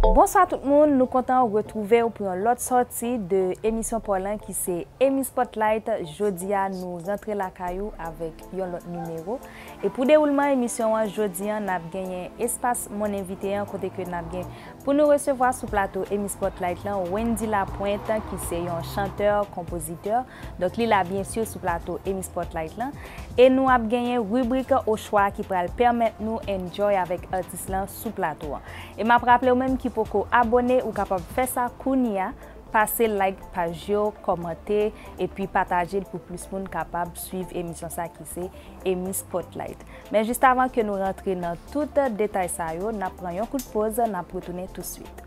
Bonswa tout moun nou kontan retrouvew pou yon lòt sòti de emisyon paw lan ki se Amy Spotlight jodia nou rantre lakay ou avèk yon lòt nimero e pou dewoulman emisyon an jodi an nap genyen espas mon invité an kote ke nap gen pou nou resevwa sou plato Amy Spotlight lan Wendy Lapointe ki se yon chanteur konpozitè Donk li la byen sur sou plato Emmy Spotlight lan. E nou ap genyen ribrik ochwa ki pral pèmèt nou enjoy avèk atis lan sou plato an. E map raplew menm ki poko abone ou kapab fè sa kounya, pase like paj yo, kòmante, epi patajel pou plis moun kapab swiv emisyon sa ki se Emmy Spotlight. Men jis avan ke nou rantre nan tout detay sa yo, nap pran yon kout poz, nap retounen touswit.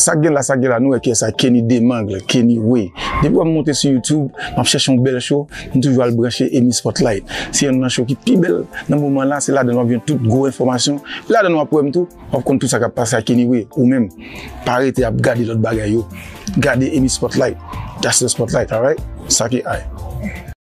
Sak gen la sak gen la nou wè kiyès sa Kenny Demangle, Kenny Way. Depi wè m monte sou YouTube, m ap chèche yon bèl show, m toujou al branche Emmy Spotlight. Se yonn nan show ki pi bèl nan moman la, se ladan l w ap jwenn tout gwo enfòmasyon. E ladan l w ap wè m tou, w ap konn tout sa k ap pase ak Kenny Way. Ou menm, pa rete ap gade lòt bagay yo, gade Emmy Spotlight. That's the spotlight, alright? Sake ay.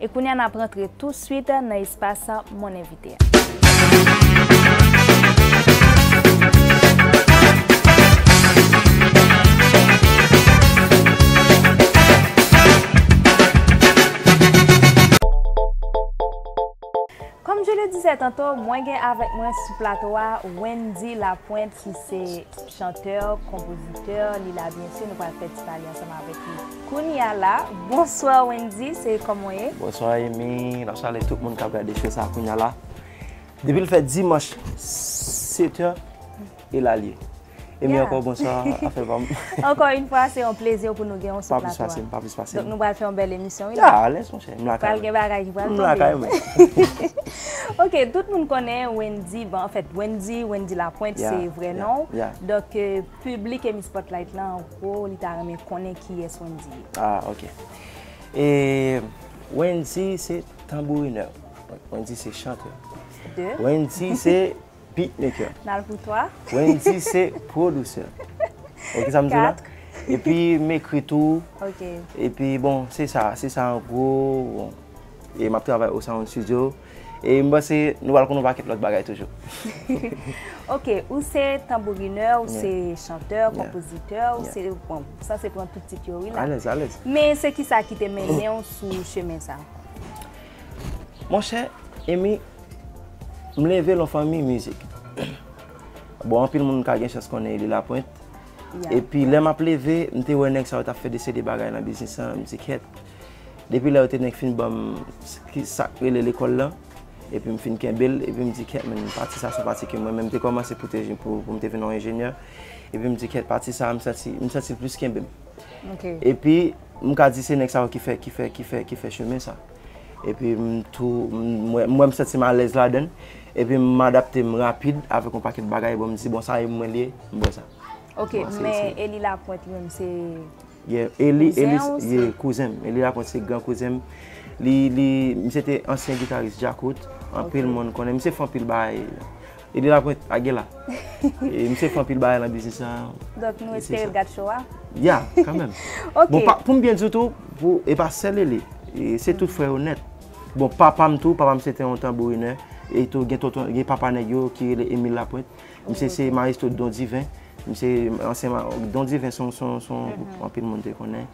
E kounye a n ap rantre touswit nan espas Mon Invité a. Comme je le disais tantôt, mwen gen avèk mwen sou plato a Wendy Lapointe ki se chanteur, compositeur, li la byen si nou pral fè ti pale ansanm avèk li. Kounya la Bonsoir Wendy se koman w ye? Bonsoir Emmy Map salye tout moun kap gade show sa kounya la Depi l fè dimanche 7 heures e la l ye Emmy ankò bonsoir afè pa m Ankò yn fwa se yon plezi pou nou gen w sou plato a Pa plis pase m Donk nou pral fè yon bèl emisyon wi la A alèz monchè m lakay mwen Pral gen bagay ki pral tonbe M lakay mwen Ok tout moun konnen Wendy bon anfèt Wendy Wendy Lapointe se vrè non w Donk Public emi spotlight lan an gwo li ta renmen konnen kiyès Wendy ye. Ah ok e Wendy se tanbourinè Wendy se chantè Deux Wendy se beatmaker Nal pou twa Wendy se pwodusè Ok sa m di la Quatre Epi m ekri tou Ok Epi bon se sa se sa an gwo e m ap travay o sound studio. E m panse nou pral konn yon pakèt lòt bagay toujou. Ok, ou se tanbourinè, ou se chantè, konpozitè, ou se, bon, m sanse pran tout tit yo wi la. Alèz, alèz. Men se ki sa ki te mennen ou sou chemen sa? Monchè, Emy, m leve lan fanmi mizik. Bon, anpil moun ka gen chans konnen Eli Lapointe. Epi lè m ap leve, m te wè nèg sa yo t ap fè de se de bagay lan biznis lan, m di kèt. Depi lè yo te nèk fin ban m sa k rele lekòl lan, epi m fin kenbe l, epi m di kèt men pati sa a se yon pati ke mwen menm m te kòmanse pou m te vin yon enjenyè, epi m di kèt pati sa a m santi m santi l plis kenbe m. Epi m ka di se nèg sa yo ki fè ki fè ki fè ki fè chemen sa. Epi m tou m wè m wè m santi m alèz ladan l, epi m adapte m rapid avèk yon pakèt bagay, bon m di bon sa e mwen li ye, m bwè sa. Ok men Elie Lapointe menm se. Yeah Eli Eli Kouzen ou se? yeah kouzen m Eli Lapointe se gran kouzen m li li misye te ansyen gitaris Djakout anpil moun konnen misye fè anpil bagay Eli Lapointe a Gela e misye fè anpil bagay nan biznis la Donk nou espere l gad show a? Yeah kanmenm Ok Bon pa pou m byen di w tou pou e pa sèl Eli e se tout frè yo nèt bon papa m tou papa m se te yon tanbourinè e tou gen tonton gen papa nèg yo ki rele Emile Lapointe Misye se maestro Don Divin. Misye ansyen ma... Don Divin son, son, son gwoup anpil moun te konnen.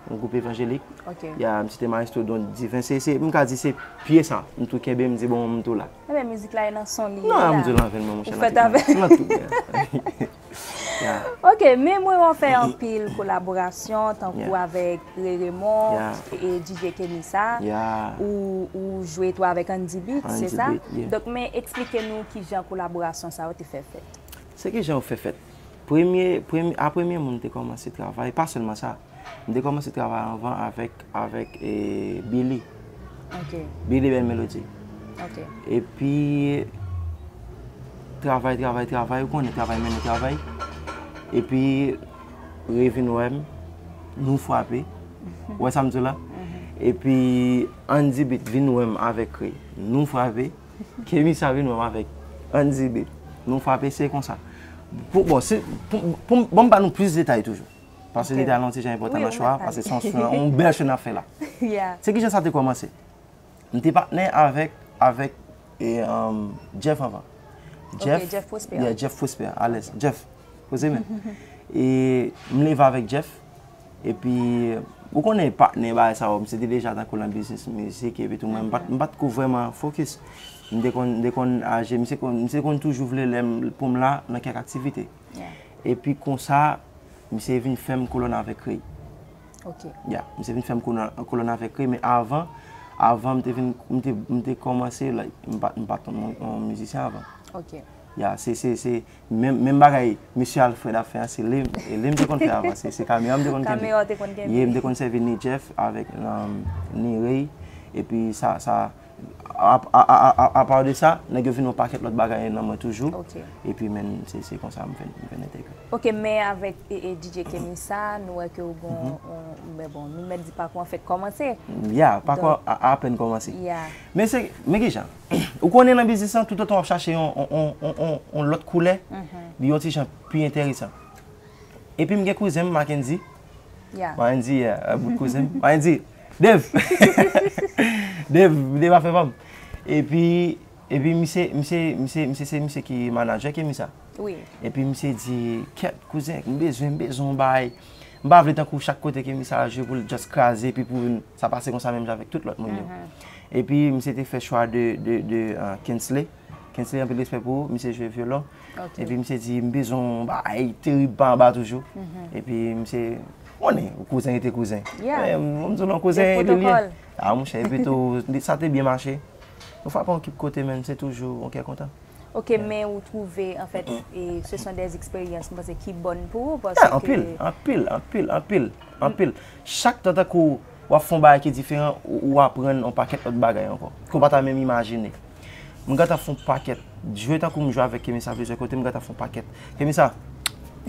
Yon gwoup evanjelik. Ok. Ya, misye te maestro Don Divin. Se, se, m ka di se pye sa m tou kenbe, m di bon m tou la. Enben mizik la e nan san li ye la. Nan m di lan venn mwen monchè. Ou fèt avè. Nan tout mwen. Ya. Ok, men mwen wè w fè anpil kolaborasyon tankou avèk. Ray Raymond e DJ Kenny sa ou jwe tou avèk Andy Beat se sa? Donk men eksplike nou kijan kolaborasyon sa yo te fè fèt. Se kijan yo fè fèt. Premye, a premye moun m te kòmanse travay, pa sèlman sa, m te kòmanse travay anvan avèk, avèk e Billy. Ok. Billy Bèl Melodi. Ok. E pi travay, travay, travay, ou konnen travay mennen travay. E pi. Re vin wè m, nou fwape. Ou wè sa m di w la? Epi Andy Beat vin wè m avèk Re, nou fwape. Kemisa vin wè m avèk Andy Beat, nou fwape. Se konsa. Pou bon, si, pou, ban m ba nou plis detay toujou. Pase li te al yon ti jan enpòtan nan cho a, pase se yon cho, yon bèl cho n ap fè la. Se ki jan sa te kòmanse? M te patnè avèk, avèk e um Jeff anvan. Ok, Jeff Prosper. Yeah, Jeff Prosper, alèz. Jeff, poze men. E m leve avèk Jeff, epi ou konnen patnè bagay sa yo, m se te deja tankou lan biznis mizik epi tou men m pat, m pat ko vrèman fokis. M te konn, m te konn aje, m se konn, m se konn toujou vle lè m, pou m la nan kèk aktivite. Yeah. Epi konsa, misye vin fè m kolòn avèk Rey. Ok. Ya, misye vin fèm kolòn avèk li, men avan, avan m te vin, m te kòmanse like, m pat, m pat konn yon mizisyen avan. Ok. Ya, se, se, se, menm, menm bagay Mesye Alfred ap fè an, se li, e li m te konn fè avan, se kamera m te konn kenbe. Kamera w te konn kenbe. Ye, m te konn sèvi Ni Jeff avèk Ni Ray, epi sa, sa. Apaw de sa, nèg yo vin yon pakèt lòt bagay nan mwen toujou. Epi men se konsa m vin entegre. Ok, men avèk DJ Kemi sa, nou wè ke ou gon yon, men bon, nou mèt di pakou an fèk kòmanse. Ya, pakou an apèn kòmanse. Ya. Men se, men ki jan? Ou konnen nan biznis lan, toutotan w ap chache yon, yon lòt koulè, li yon ti jan pi enteresan. Epi m gen kouzen m, Mackendy. Mandy a bout kouzen m. Mandy! Dev! Dev! Dev ap fè pa m. E pi, e pi misye, misye, misye, misye se misye ki manajè Kemi sa. Wi. E pi misye di, kèt kouzen, m bezwen, m bezwen yon bagay. M pa vle tankou chak kote Kemi sa jwe pou l just kraze epi pou vin, sa pase konsa menm jan avèk tout lòt moun yo. E pi misye te fè chwa de, de, de Kensley. Kensley anpil respè pou ou, misye jwe vyolon epi misye di m bezwen yon bagay terib pa anba toujou epi misye ou konnen kouzen rete kouzen m di w non kouzen e li liye a monchè epi tou sa te byen mache nou frape yon kip kote men se toujou yon kè kontan Ok men ou twouve anfèt se son de eksperyans m panse ki bon pou ou paske anpil anpil anpil anpil anpil chak tan tankou w ap fè yon bagay ki diferan, ou aprann yon pakèt lòt bagay ankò, ke w pa ta menm imajine. M gentan fè yon pakèt, jwe tankou m jwe avèk Kemisa plizyè kote, m gentan fè yon pakèt. Kemisa,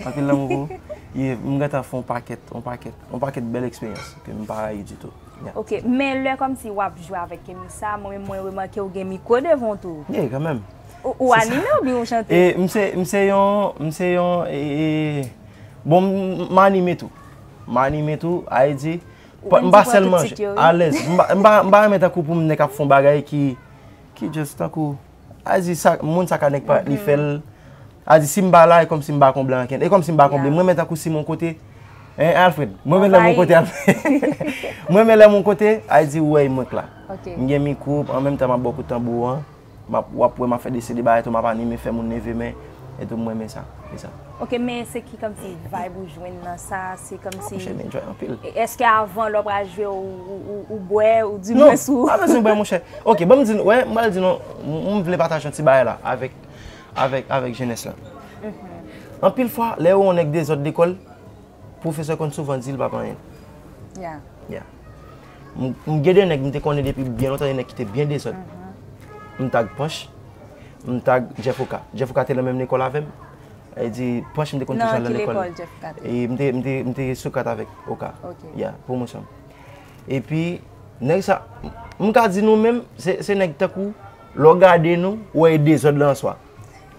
anpil lanmou pou ou. Yeah, m gentan fè yon pakèt, yon pakèt, yon pakèt bèl eksperyans ke m pa rayi ditou. Yeah. Ok, men lè kòmsi w ap jwe avèk Kemisa, mwen menm mwen remake w gen mikwo devan w tou. Yeah, kanmenm. Ou anime oubyen ou chante? E, m se, m se yon, m se yon, e, bon, m anime tou. M anime tou, Ayi di. M pa sèl manje. Alèz. M pa renmen tankou pou m nèk ap fon bagay ki just tankou. Ayi di sa, moun sa ka nèk pa ni fèl. Ayi di si m pa la, e kòm si m pa konble anken. E kòm si m pa konble. M renmen tankou si m yon kote. Hein Alfred? M renmen lè m yon kote Alfred. M renmen lè m yon kote, Ayi di ou wè e mwen k la. M gen mikwo, an menm tan m ap ba w kout tanbou an. Map wap wè map fè desen de bagay tou map anime fè moun nève men etou m renmen sa e sa. Ok men se ki kòmsi vibe ou jwenn nan sa se kòmsi Monchè m enjoy anpil. Eske avan lè w pral jwe ou bwè ou di mwens ou. Non pa bezwen bwè monchè. Ok banm di nou wè m pral di nou m vle pataje yon ti bagay la avèk avèk avèk jenès la. Anpil fwa lè yo wè yon nèg dezòd lekòl pwofesè konn souvan di l pap anyen. Ya. Ya. M gen 2 nèg m te konnen depi byen lontan, 2 nèg ki te byen dezòd. M tag Panch, m tag Jeff Oka. Jeff Oka te nan menm lekòl avè m. Sa vle di Panch m te konn toujou al nan lekòl li. Nan ki lekòl Jeff Oka te? E m te Socrate avèk Oka. Ok. Ya, pwomosyon. E pi, nèg sa, m ka di nou menm, se nèg tankou, lè w gade nou, ou wè e dezòd lan an swa.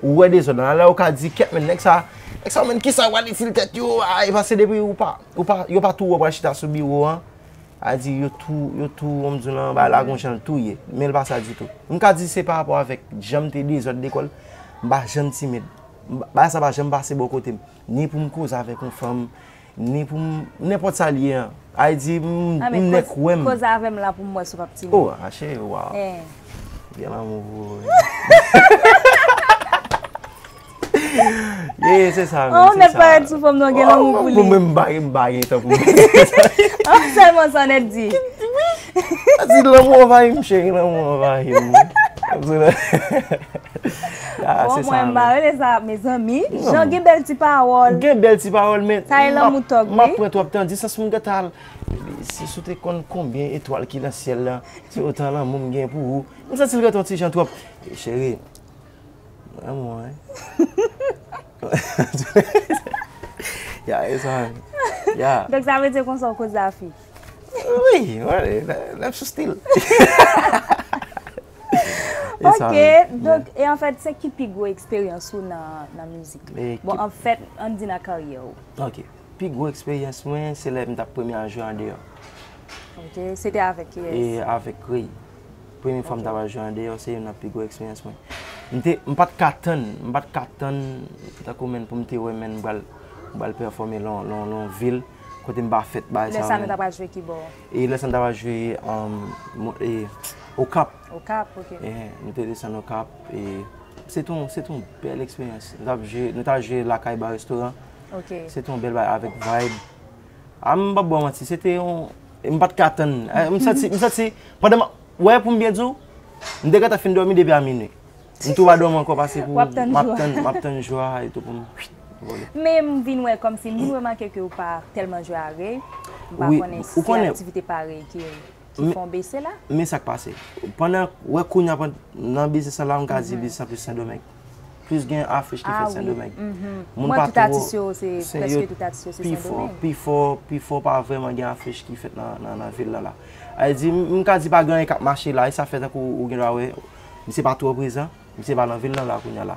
Ou wè dezòd lan, alè ou ka di kèt men nèg sa, nèg sa menn kisa yo pral itil tèt yo a, e pase depi ou pa, ou pa, yo pa tou wè ou pral chita sou biwo an, a di yo tou, yo tou ou m di w nan bay la gon jan l tou ye, men l pa sa ditou. M ka di se pa rapò avèk jan m te dezòd lekòl, m pa janm timid, bagay sa pa janm pase bò kote m, ni pou m koze avèk yon fanm. Ni pou m nenpòt sa l ye an. Ay di m m nèk wè m. Koze avè m la pou m wè si w pa p timid. O a cheri wa. M gen lanmou pou ou wi. Ye se sa. Ou nèt pa ret sou fòm nan gen lanmou pou li. Ou menm m pa gen tan pou m. Sèlman sa nèt di. Sa di lanmou anvayi m cheri lanmou anvayi m. Bon mwen pa rele sa mezanmi. Jan gen bèl ti pawòl. Gen bèl ti pawòl men. Sa e lanmou tòg wi. M ap pran twòp tan di sa si m gen ta al. Si sou te konn konbyen etwal ki nan syèl la se otan lanmou m gen pou ou. M santi l gen ton ti jan twòp. Cheri lanmou an. Ya e sa. Donk sa vle di konsa w koze a fi. Wi, lèm sou stil. Ok, donk e anfèt se ki pi gwo eksperyans ou nan mizik? Bon anfèt, an di nan karyè ou. Ok, pi gwo eksperyans mwen se lè m tap premye a jwe andeyò. Ok, se te avèk ki yès? E avèk Krey. Premye fwa m tap al jwe andeyò se yon nan pi gwo eksperyans mwen. M pat ka tann, m pat ka tann, tankou menn pou m te wè menn m pral pèfòme lan yon vil. Kote m pa fèt bay sa. Lè sa nou ta pral jwe kibò? E lè sa nou ta pral jwe Okap. Okap, ok. Nou te desann Okap. Se te yon bèl eksperyans. Nou ta jwe lakay ba restoran. Ok. Se te yon bèl bagay avèk vibe. A m pap ba w manti, se te yon, m pa t ka tann. M santi, m santi, pandan m ap, wè pou m byen di w, m te gentan fin dòmi depi a minui. M tou pa dòmi ankò pase pou Wap tann jwa a. Map tann jwa a etou pou m vole. Men m vin wè kòmsi, m vin remake ke ou pa tèlman jwe a rey. M pa konnen si se aktivite pa rey ki fè w bese la. Men sa k pase. Pandan, wè kounya pan, nan biznis sa la m ka di biznis la plis Sendomeng. Plis gen afich ki fèt Sendomeng. A wi. Moun pa twò. Mwen tout atis yo se, prèske tout atis yo se Sendomeng. Pi fò, pi fò pa vrèman gen afich ki fèt nan vil la la. A vle di, m ka di pa gen anyen k ap mache la e sa fè tankou ou gen dwa wè. Misye pa twò prezan, misye pa nan vil lan la kounya la.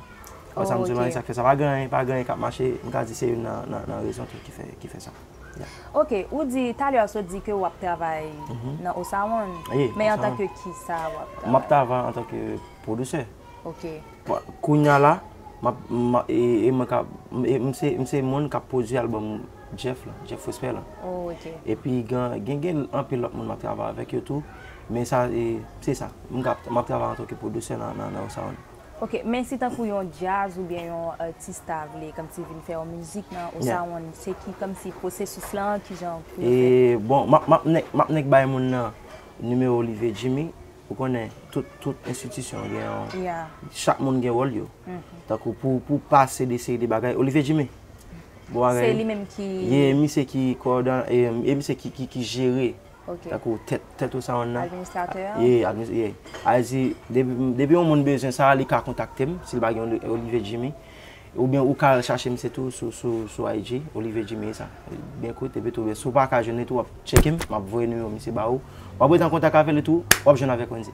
Wè sa m di w lan e sa k fè sa. Pa gen anyen, pa gen anyen k ap mache, m ka di se youn nan rezon tou ki fè sa. Ok, ou di, talè a w sot di ke w ap travay nan Osawon, men antanke kisa w ap travay? M ap travay antanke pwodusè. Ok. Kounya la, m se moun k ap pwodui albòm. Jeff lan, Jeff Prosper lan. Oh ok. Epi gen gen anpil lòt moun map travay avèk yo tou. Men sa e, se sa. M ka, map travay antanke pwodusè nan nan yon sound. Ok, men si tankou yon djaz oubyen yon atis ta vle kòmsi vin fè yon mizik nan yon sound, se ki kòmsi pwosesis lan, kijan pou yo fè? E, bon, map, map nèk, map nèk bay moun nan nimewo Olivier Jimmy. Ou konnen tout, tout enstitisyon gen yon, chak moun gen wòl yo. Tankou pou, pou pase de seri de bagay, Olivier Jimmy! Bon bagay. Se li menm ki. Ye e misye ki koòdone e e misye ki ki ki jere Ok. tankou tèt tèt ou sa yon nan. Administratè a. Ye adminis ye. A e di depi m depi yon moun bezwen sa li ka kontakte m si l pa gen Oli Olivier Jimmy. Oubyen ou ka al chache misye tou sou sou sou IG Olivier Jimmy e sa. Byen kout epi tou si w pa ka jwenn li tou w ap tcheke m, m ap voye nimewo misye ba ou. W ap rete an kontak avè li tou, w ap jwenn avèk Wendy.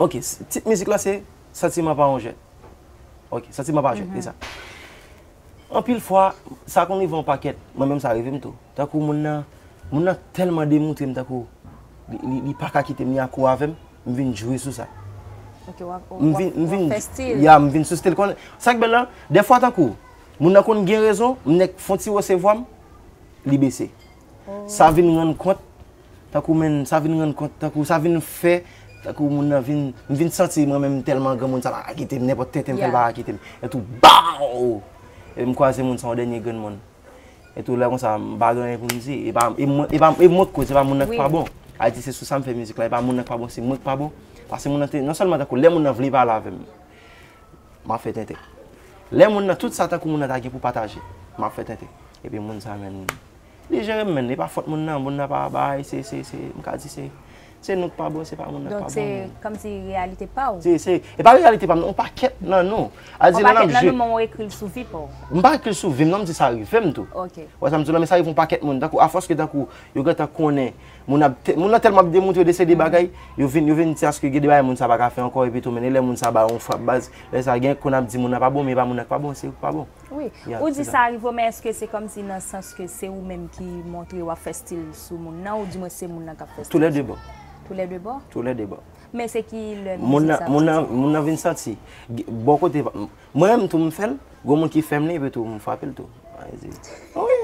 Ok tit mizik la se santiman pa yon jwèt ok santiman pa jwèt se sa anpil fwa sa konn rive yon pakèt mwen menm sa rive m tou tankou moun nan moun nan tèlman demontre m tankou li pa ka kite m li akou avè m m vin jwe sou sa m vin fè stil ya m vin sou stil konnen sa k bèl la dèfwa tankou moun nan konn gen rezon m nèk fon ti wose vwa m li bese. Sa vin rann kont tankou menn sa vin rann kont tankou sa vin fè tankou moun nan vin m vin santi mwen menm tèlman granmoun sa pa ka kite m nenpòt tenten m fè l pa ka kite m etou baww epi m kwaze moun sa yon dènye granmoun etou lè konsa m pa gen anyen pou m di e pa e mwen e pa e mwen k koz se pa moun nan k pa bon ayiti se sou sa m fè mizik la e pa moun nan k pa bon se mwen k pa bon pase moun nan te non sèlman tankou lè moun nan vle pale avè m m ap fè tenten lè moun nan tout sa tankou moun nan ta gen pou pataje m ap fè tenten epi moun sa menn Li jere m men li pa fòt moun nan, moun nan pa bay, se, se, se, m ka di se, se nou k pa bon, se pa moun nan k pa bon. Donk se kòm si reyalite pa ou. Se, se, e pa reyalite pa m non, on pakèt nan nou. A di lè n ap jwe. On pakèt nan nou men ou ekri l sou vi pa w. M pa ekri l sou vi m non, m di sa rive m tou. Ok. Ou wè sa m di w la men sa rive on pakèt moun tankou afòs ke tankou yo gen tan konnen moun ap, moun nan tèlman ap demontre de se de bagay, yo vin, yo vin di aske gen de bagay moun sa pa ka fè ankò epitou men e lè moun sa ba ou on frap baz, lè sa gen konn ap di moun nan pa bon men e pa moun nan k pa bon, se ou k pa bon. Wi, ou di sa rive w men eske se kòm si nan sans ke se ou menm ki montre wap fè stil sou moun nan ou di mwen se moun nan kap fè stil sou mwen? Tou lè 2 bò. Tou lè 2 bò? Tou lè 2 bò. Men se ki lè moun sa ap santi sa? Moun nan vin santi. Bò kote, mwen menm tou m fè l, gwo moun ki fè m li epi tou m fwape l tou. Wi.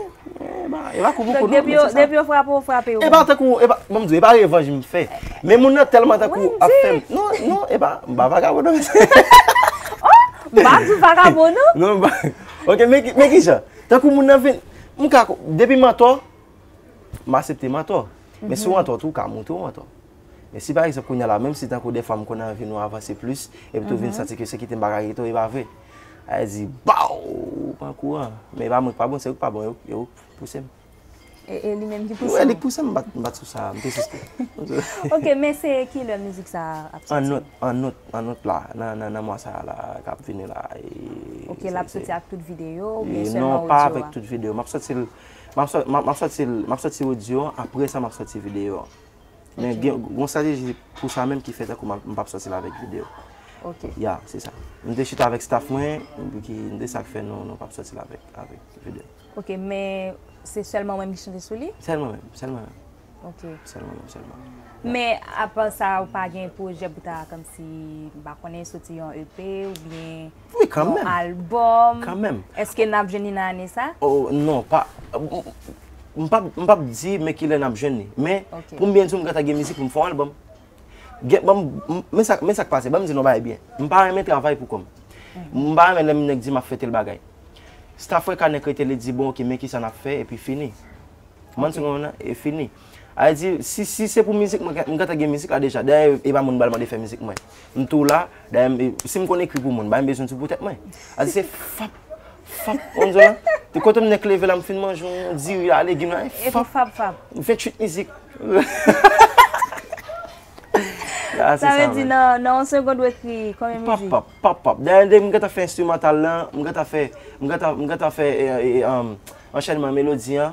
E pa kou pou kou non, men se sa. Depi yo frape ou, frape yo. E pa tankou, e pa, bon m di ou, e pa revanj m fè. Men moun nan tèlman tankou ap fè m. Wendy! Non, non, e pa, m pa vagabon non mesye. Oh! M pa di w vagabon non. Non m pa, ok men ki, men ki jan? Tankou moun nan vin, m ka, depi m antò, m asepte m antò. Men si w antò tou, w ka montre w antò. Men si pa egzanp kounye a la, menm si tankou dèfwa m konn anvi nou avanse plis, epi tou vin santi ke se kite m pa ka kite w, e pa vre. Ayè di baw ou pran kou an. Men e pa mwen ki pa bon se yo ki pa bon e yo ki pouse m. E li menm ki pouse w? Wi li ki pouse m m bat sou sa a m te sispè. Ok men se kilè mizik sa a ap soti? An out an out an out la nan mwa sa a la k ap vini la. Ok l ap soti ak tout videyo ou byen sèlman odyo a? Non pa avèk tout videyo m ap soti l m ap soti odyo an apre sa m ap soti videyo an. Men gen yon strateji pou sa menm ki fè tankou m pap sòti la avèk video. Ok. Ya, se sa. M te chita avèk staff mwen, ki de sa k fè nou pap sòti la avèk video. Ok, men se sèlman ou menm ki chante sou li? Sèl mwen menm, sèl mwen menm. Ok. Sèl mwen menm, sèl mwen menm. Men apa sa ou pa gen pwojè pou ta kòmsi m pa konnen sòti yon EP oubyen? Wi kanmenm. Yon album. Kanmenm. Eske nap jwenn li nan ane sa? Oh non pa M pap m pap di men kilè nap jwenn li. Men pou m byen di w m gentan gen mizik pou m fè yon album. Gen banm men sa men sa k pase banm di n yon bagay byen. M pa renmen travay pou kò m. M pa renmen lè m nèk di m ap fè tèl bagay. Staff Rekha nèk rete li di bon ok men kisa nap fè epi fini. Kòmanw se konprann lan? E fini. Ayiti si se pou mizik mwen m gentan gen mizik la deja dayè e pa moun m bal mande fè mizik mwen m tou la dayè m si m konn ekri pou moun bay m bezwen ti pou tèt mwen ayiti se fap fap ou konn zòn lan e kote m nèk leve la m fin manje yon diri a legim la e fap fap fap 28 mizik ya se sa sa vle di nan yon segond ou ekri konbyen mizik pap pap pap pap dayè depi m gentan fè enstrimantal lan m gentan fè m gentan m gentan fè e e anchènman melodi an.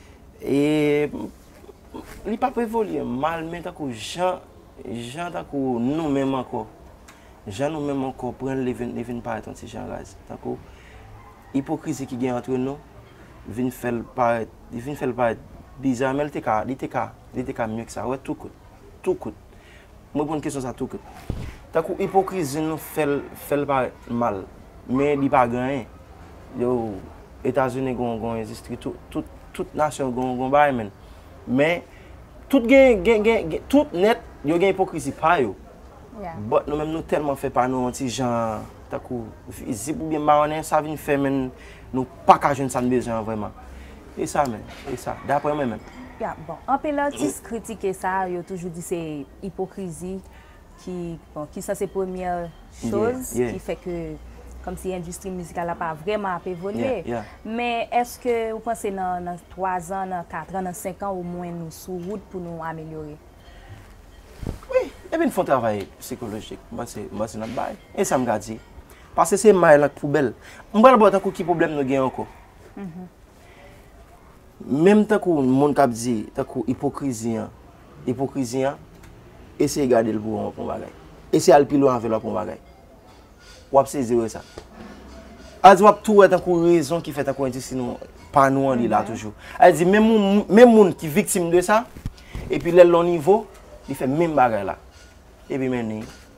E li p ap evolye mal men tankou jan jan tankou nou menm ankò. Jan nou menm ankò pran l li vin parèt yon ti jan raz. Tankou ipokrizi ki gen antre nou vin fè l parèt li vin fè l parèt biza men li te ka li te ka li te ka mye ke sa. Ou wè tou kout tou kout. M reponn kesyon sa tou kout. Tankou ipokrizi nou fè l fè l parèt mal. Men li pa gen anyen. Yo Etazini gen yon endistri tou. Tout nasyon gen yon bagay menn. Men tout gen gen tout nèt yo gen ipokrizi pa yo. Bòt nou menm nou tèlman fè pa nou yon ti jan tankou vizib oubyen mawonnen sa vin fè menn nou pa ka jwenn sa n bezwen an vrèman. E sa menm, e sa, daprè mwen menm. Ya, bon, anpil atis kritike sa, yo toujou di se ipokrizi ki, bon, ki sanse premyè choz ki fè ke kòmsi endistri mizikal la pa vrèman ap evolye. Men, èske ou panse nan, nan twazan, nan katran, nan senkan omwen nou sou wout pou nou amelyore? Wi, depi n fè yon travay sikolojik, m panse, m panse n ap bay. E sa m ka di? Pase se may lan k poubèl. M pral ba w tankou ki pwoblèm nou gen ankò. Menm tankou moun kap di, tankou ipokrizi an, ipokrizi an, eseye gade l pou wè yon bagay. Eseye al pi lwen avè l wap wè yon bagay. Wap sezi wè sa. A di wap tou wè tankou rezon ki fè tankou endistri nou, pa nou an li la toujou. A di menm moun ki viktim de sa, epi lè l lon nivo, li fè menm bagay la. Epi men ni,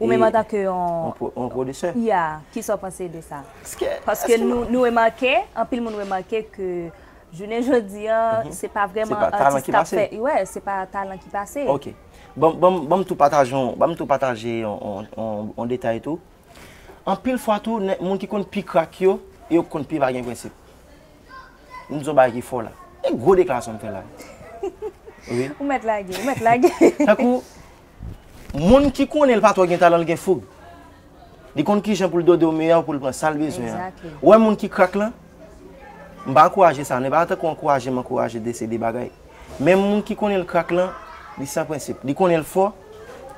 Ou menm antanke yon. Yon pwodisè. Ya, ki sa w panse de sa? Ske. Paske nou remake, anpil moun remake ke jounen jodi a, se pa vrèman atis k ap fè. Wè, se pa talan ki pase. Ok. Banm tou pataje yon, banm tou pataje yon detay tou. Anpil fwa tou, moun ki konn pi krak yo, e yo konn pi pa gen prensip. M di w yon bagay ki fò la. E gwo deklarasyon m fè la. Ou mèt lage, ou mèt lage. Tankou. Moun ki konnen l pa twò gen talan l gen foug. Li konn kijan pou l dode w miyò pou l pran sa l bezwen an. Ou wè moun ki krak lan? M pa ankouraje sa non, e pa tankou w ankouraje m ankouraje de se de bagay. Men moun ki konnen l krak lan, li san prensip. Li konnen l fò,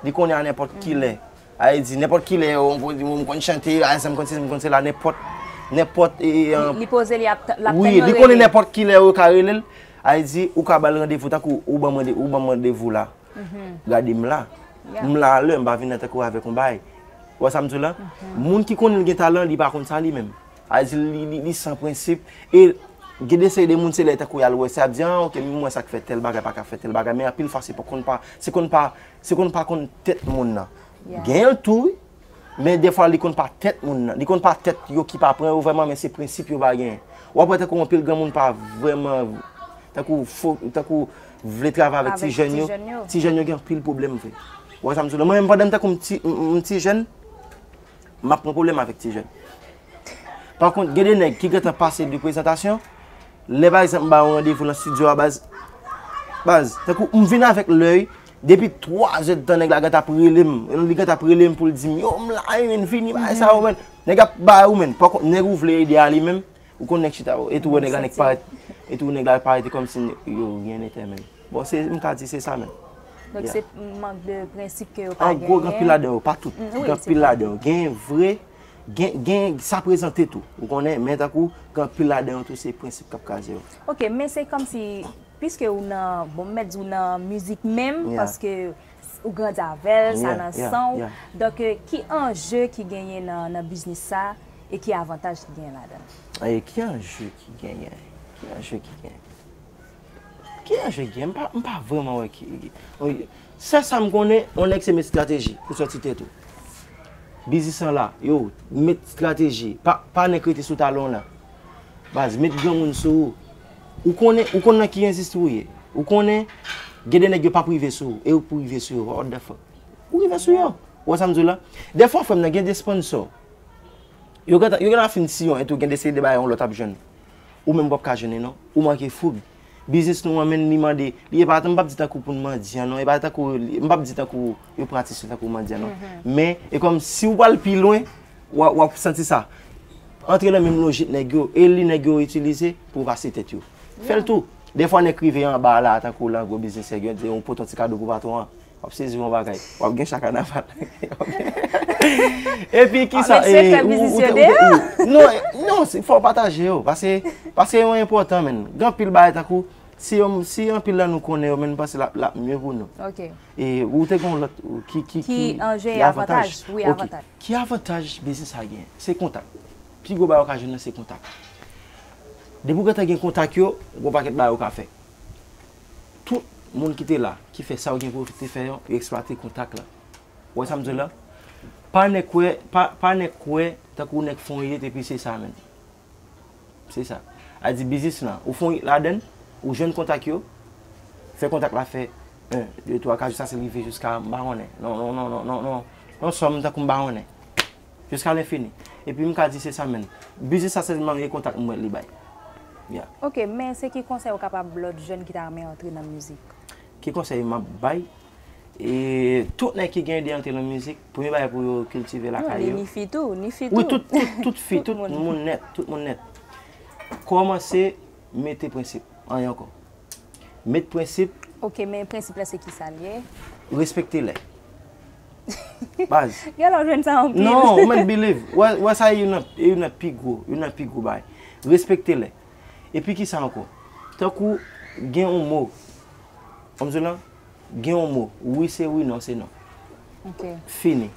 li konnen a nenpòt kilè. A e di nenpòt kilè o m konn m konn chante, a e sa m konn sezi m konn sela nenpòt, nenpòt e e an. Li poze li ap tan, l ap tan yo rele l. Wi, li konnen nenpòt kilè yo ka rele l. A e di ou ka ba l randevou tankou ou ban m randevou la. Gade m la. M la a lè, m pa vin la tankou w avèk yon bagay. Ou wè sa m di w la? Moun ki konnen li gen talan, li pa konn sa li menm. A di li, li san prensip. E gen de seri de moun se lè tankou y al wè, se y ap di, an oke, m wè sa k fè tèl bagay pa ka fè tèl bagay. Men anpil fwa se konn pa, se konn pa, se konn pa konn tèt moun nan. Gen l tou wi. Men defwa li konn pa tèt moun nan, li konn pa tèt yo ki pa pran yo vrèman men se prensip yo pa genyen. W ap wè tankou anpil granmoun pa vrèman tankou fo, tankou vle travay avèk ti jèn yo. Ti jèn yo gen anpil pwoblèm vre. Ou wè sa m di w la? Mwen menm pandan m tankou m ti, m ti jèn, m ap pran pwoblèm avèk ti jèn. Pa kont gen de nèg ki gen tan pase de prezantasyon, lè pa egzanp m ba yo randevou nan stidyo a baz, baz, tankou m vin avèk lèy Depi 3 zè tan nèg la gen tap rele m, li gen tap rele m pou l di m yo m la e menn fini bagay sa yo menn. Nèg ap bay ou menn, pa konn nèg ou vle ede a li menm, ou konn nèg chita e tou wè nèg la nèk parèt, e tou nèg la parèt e kòmsi yo ryen nètè menm. Bon se, m ka di se sa menm. Donk se mank de prensip ke yo pa genyen. An gwo gen anpil ladan yo, pa tout, gen anpil ladan yo. Gen vre, gen sa prezante tou, ou konnen, men tankou gen anpil ladan yo tou se prensip kap kraze yo. Ok, men se kòmsi Piske ou nan, bon m mèt di w nan mizik menm, paske ou grandi avè l, sa nan san w, donk ki anje ki genyen nan biznis sa e ki avantaj ki genyen ladan l? Ki anje ki genyen? Ki anje ki genyen? Ki anje ki genyen? M pa vrèman wè ki, sèl sa m konnen, yon nèg se mèt estrateji pou sòti tèt ou. Biznis lan la, yo, mèt estrateji, pa nèk rete sou talon w nan. Baz, mèt granmoun sou ou. Ou konnen, ou konn nan ki enzisti ou ye. Ou konnen, gen de nèg yo pap rive sou ou, e ou k pou rive sou yo, what the fuck. Ou rive sou yo. Ou wè sa m di w la? Dèfwa frè m nan gen de sponsor, yo gentan, yo gentan fin siyon etou, gen de seri de bagay yon lòt ap jwenn, ou menm pap ka jwenn li non. Ou manke foug. Biznis nou an menn li mande, li epa, m pap di tankou pou n mandyan non, epa tankou, m pap di tankou yo pran atis yo tankou mandyan non. Men, e kòm si ou pral pi lwen, w ap santi sa. Antre nan menm lojik nèg yo, e li nèg yo itilize pou vase tèt yo. Fè l tou. De fwa nèg rive anba a la a tankou lan gwo biznis nèg yo, di yon pote yon ti kado pou patwon an. W ap sezi yon bagay. W ap gen chak kanaval. E pi ki sa? A mesye fè biznis yo deyò. Non, non, fò w pataje yo. Pase, pase yo enpòtan menn. Gen anpil bagay tankou, si anpil lan nou konnen yo menn nou panse l ap mye pou nou. Ok. E ou te gen yon lòt ki avantaj. Ki anje avantaj, wi avantaj. Ok, ki avantaj biznis sa genyen? Se kontak. Pi gwo bagay ou ka jwenn nan se kontak. Depi ou gentan gen kontak yo, gen yon pakèt bagay ou ka fè. Tout moun ki te la, ki fè sa yo gen pou yo te fè yo, yo eksplwate kontak la. Ou wè sa m di w la? Pa nèk wè, pa nèk kwè, tankou nèk fon ye epi se sa menm. Se sa. A di biznis lan, ou fon ladann, ou jwenn kontak yo, fè kontak la fè 1, 2, 3, 4, jiska se rive jiska m pa konnen. Non, non, non, non, non, non. Yon sòm tankou m pa konnen. Jiska lenfini. E pi m ka di se sa menm. Biznis sa sèlman gen kontak m wè li bay. Ya. Ok, men se ki konsèy ou kapab lòt jèn ki ta renmen antre nan mizik? Ki konsèy m ap bay E tout nèg ki gen ide antre nan mizik, premye bagay pou yo kiltive lakay yo. Non, ni fi tou, ni fi tou. Wi, tout, tout, tout fi, tout moun nèt, tout moun nèt. Kòmanse mete prensip, anyen ankò. Met prensip. Ok, men prensip la se ki sa l ye? Respekte lè. Baz. Gè lè w jwenn sa anpil. Non, ou mèt biliv. Ou wè sa e youn nan, e youn nan pi gwo, youn nan pi gwo bagay. Respekte lè. E pi ki sa ankò? Tankou gen yon mo, kòm di w lan, Gen yon mo, wi se wi non se non. Fini.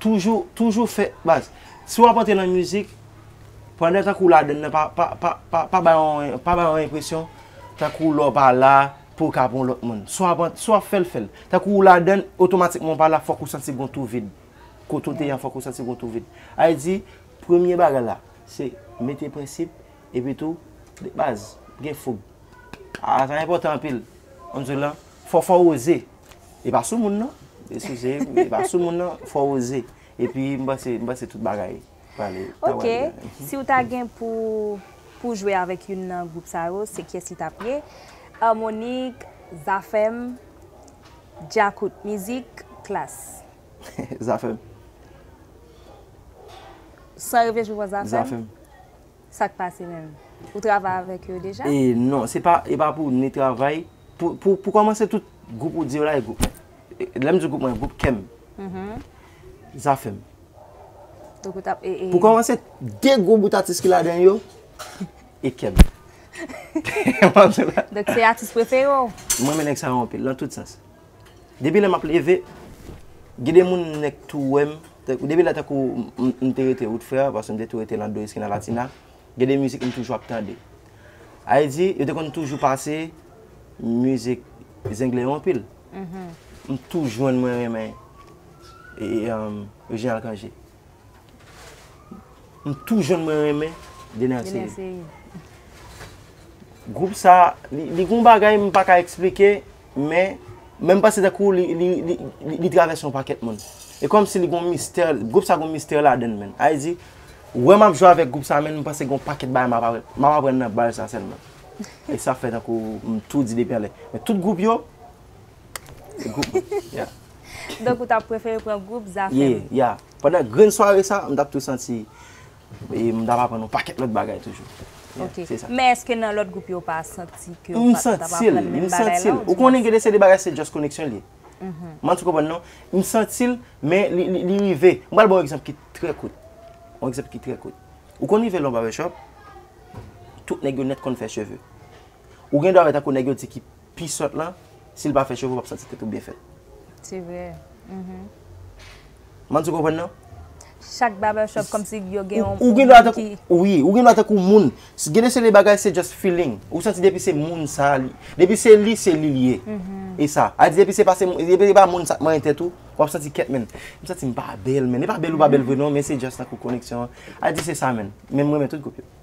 Toujou, toujou fè, baz, si wap antre nan mizik, pandan tankou w ladann nan, pa bay yon, pa bay yon enpresyon, tankou lè w pa la, pou w ka pou yon lòt moun. Si wap, si wap fè l, fè l. Tankou w ladann, otomatikman w pa la, fòk ou santi gen yon twou vid. Kote w te an, fòk ou santi gen yon twou vid. Sa vle di, premye bagay la, se mete prensip. Epi tou, de baz, m gen foug. Aa sa enpòtan anpil. Kòm se lan, fò fò oze. E pa soumoun non. E sou se, e pa soumoun non. Fò oze. Epi m panse, m panse tout bagay prale, ta pral byen. Ok. Si w ta gen pou w, pou w jwe avèk youn nan gwoup sa yo, se kyès li t ap ye? Harmonik, Zafèm, Djakout. Mizik, Klass. Zafèm. San reflechi w pran Zafèm? Zafèm. Sak pase menm? Ou travay avèk yo deja? E non, se pa, e pa pou ni travay, pou, pou, pou kòmanse tout gwoup ou di yo la e gwoup mwen. Lè m di gwoup mwen, gwoup kè m. Zafè m. Donk ou tap e, e. Pou kòmanse, de gwo bout atis ki ladan yo, e kè m. Donk se atis prefere w? Mwen renmen nèg sa yo anpil, nan tout sans. Depi lè map leve Gen de moun m nèk tou wèm Depi lè tankou m te rete wout frè Paske m te tou rete lan do eskina latina Gen de mizik m toujou ap tande Ayy di yo te konn toujou pase Mizik zenglen yo anpil M tou jwenn mwen renmen Reginald Cangé M tou jèn mwen renmen Dener Ceïde. Gwoup sa, li gon bagay m pa ka eksplike, men, men m panse tankou li travèse yon pakèt moun. E kòm si li gon mistè, gwoup sa gon mistè ladann menn. A vle di, wè m ap jwe avèk gwoup sa menn, m panse gon pakèt bagay m ap aprann nan bal sa sèlman. E sa fè tankou m tou di depi anlè. Men tout gwoup yo. Donk ou tap prefere pran gwoup Zafèm? Ye, ya. Pandan grenn sware sa, m tap tou santi m tap aprann yon pakèt lòt bagay toujou. Ok. Se sa. Men eske nan lòt gwoup yo ou pa santi ke ou pat ap aprann menm bagay la? M santi l, m santi l. Ou konnen gen de seri de bagay se just koneksyon li ye. M annik ou konprann non. M santi l, men li rive. M pral ba w yon egzanp ki trè kout. Yon egzanp ki trè kout. Ou konn rive nan yon barbershop, tout nèg yo nèt konn fè cheve. Ou gen dwa wè tankou nèg yo di ki pi sòt lan sil pa fè cheve ou pap santi tèt ou byen fèt. Se vre M'en di ou konprann non. Chak barber shop komsi yo gen yon moun ki. Wi, ou gen dwa tankou moun. Gen de seri bagay se just feeling. Ou santi depi se moun sa li. Depi se li se li li ye. E sa. A di depi se pa se moun. Depi se pa moun sa k manyen tèt ou. Wap santi kèt men. M santi m pa bèl men. E pa bèl ou pa bèl vre non men se just tankou koneksyon an. A di se sa men. Men m renmen tout gwoup yo.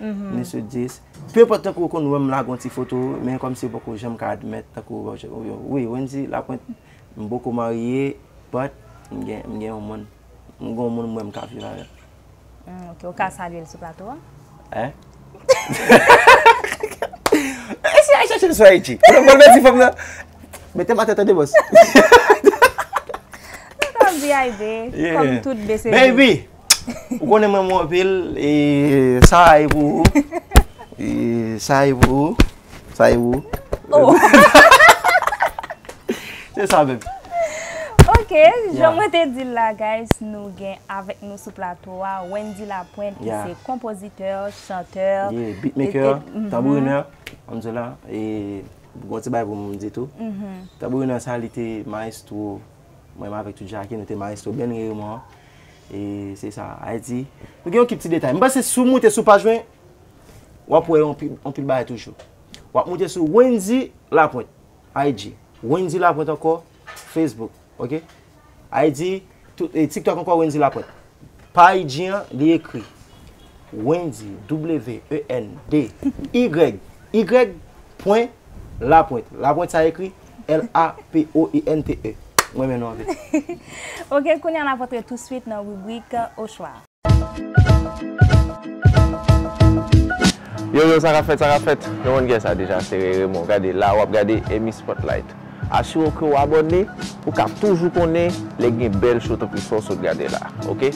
ni sou 10. Peu importe tankou ou konn wèm lage yon ti foto men kòm si ou poko janm ka admèt tankou wi Wendy la pwent m poko marye but m gen yon moun m gon moun m wè m ka viv avèl. Ok ou ka salyel sou plato a? Èhh si al chachel sou IG pou l di fanm nan metem atè tande boss. Ou ka di Aibe kòm tout bese. Baby Ou konnen m renmen w anpil e sa a e pou ou. E sa a e pou ou. Sa a e pou ou. Se sa menm. Ok, jan mwen te di l la guys, nou gen avèk nou sou plato a Wendy Lapointe ki se konpozitè, chantè. Yeah, beatmaker, tambourinè. An di w la, e gon ti bagay pou m di tou. Tambourinè sa li te maestro mwen avèk tout Jackie, nou te maestro band reyonman an. E se sa, Ayiti. Nou gen yon kip ti detay. M panse si w moute sou paj mwen, w ap wè yon pil bagay toujou. W ap moute sou Wendy Lapointe, IG. Wendy Lapointe ankò, Facebook. Ok? IG, TikTok ankò Wendy Lapointe. Pa IG an, li ekri Wendy, W-E-N-D-Y, Y pwen Lapointe. Lapointe sa ekri. L-a-p-o-i-n-t-e M renmen nou anpil. Ok, kounye a n ap antre touswit nan ribrik Ochwa. Yo yo sa kap fèt sa kap fèt Nou konn kiyès sa deja se Reremon gade la wap gade Emmy Spotlight asire w ke w abòne pou ka toujou konnen lè gen bèl show tankou sa w sot gade la ok.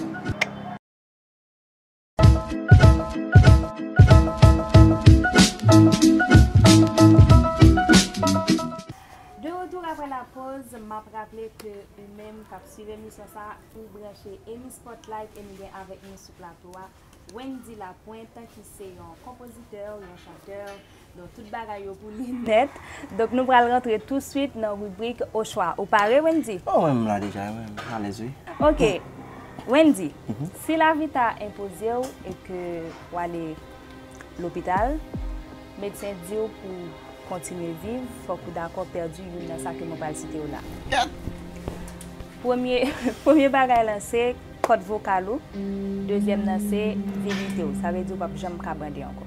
De retour aprè la poz, map raple ke u menm kap swiv emisyon sa u branche Emmy Spotlight e nou gen avèk nou sou plato a Wendy Lapointe ki se yon konpozitè, yon chantè, Donk tout bagay yo pou li nèt. Donk nou pral rantre tou swit nan ribrik ochwa. Ou pare Wendy? Oh mwen menm la deja wi, mwen alèz wi. Ok, Wendy, si lavi ta enpoze w e ke w ale lopital, medsen di w pou w kontinye viv, fòk ou dakò pèdi youn nan sa ke mwen pral site yo la. Yat! Premye, premye bagay lan se kòd vokal ou, dezyèm nan se virite w. Sa vle di ou p ap janm ka bande ankò.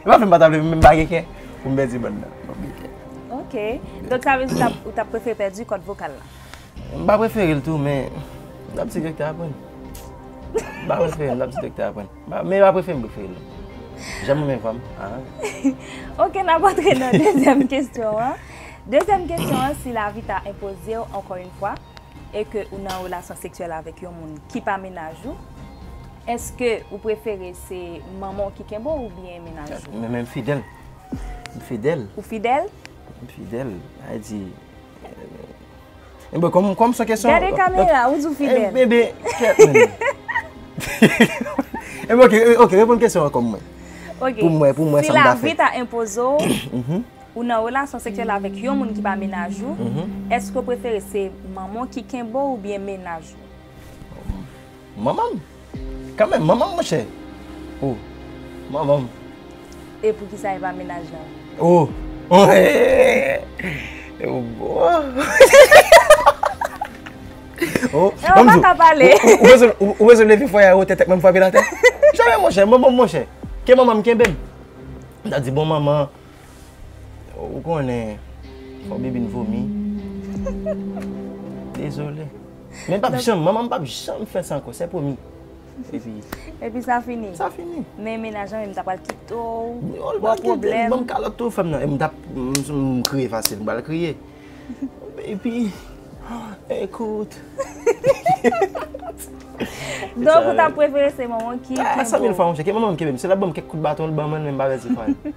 E pa fè m pa ta vle men m pa gen kè pou m pèdi bann nan. Mwen gen kè. Ok. Donk sa vle di ou ta prefere pèdi kòd vokal la? M pa prefere l tou men m ta p di doktè a pran l. M pa prefere l m ta p di doktè a pran l. Men e pa prefere m prefere l non. Jan m renmen vwa m a. Ok n ap antre nan dezyèm kesyon an. Dezyèm kesyon an si lavi ta enpoze w ankò yon fwa e ke ou nan relasyon seksyèl avèk yon moun ki pa mennaj ou. Eske ou prefere se manman w ki kenbe w oubyen mennaj ou? Mwen menm fidèl. M fidèl. Ou fidèl? M fidèl. Ay di. Enben kòm kòm se kesyon. Gade kamera, ou di w fidèl. Enben be. Enben ok, ok reponn kesyon an kòm mwen. Ok. Pou mwen, pou mwen sa m ta fè. Si lavi ta enpoze w. Ou nan relasyon seksyèl avèk yon moun ki pa mennaj ou. Eske ou prefere se manman w ki kenbe w oubyen mennaj ou? Manmanm kanmenm manmanm monchè oh manmanm. E poukisa epa mennaj lan. Oh eeh ou bezwen leve foye a wote tèt mwen frape l atè. Janm monchè manmanm monchè ke manmanm kenbem. Mta di bon manman Ou konnen fò bibin vomi. Dezole. Men pap janm, manman m pap janm fè sa ankò, se pwomi. Epi. Epi sa fini. Sa fini. Men menaj lan menm ta pral kite w. Yo l pral kite m, banm kalòt tou fèm nan. M tap, m kriye fasil, m pral kriye. Baby, écoute. Donk ou ta prefere se manman ki kenbe w. Sa mil fwa m cheke, manman m kenbe m. Si l ap banm kèk kout baton, l ban m an, men m pa pèdi fwa l.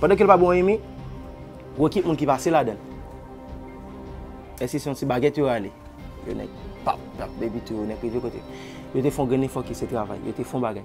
Pandan kel pa bon anyen mi wè ki moun ki pase ladann. Eske se yon ti bagèt yo rale. Yo nèk pap pap epi tou yo nèk rive kote. Yo te fon grenn efò ki se travay. Yo te fon bagay.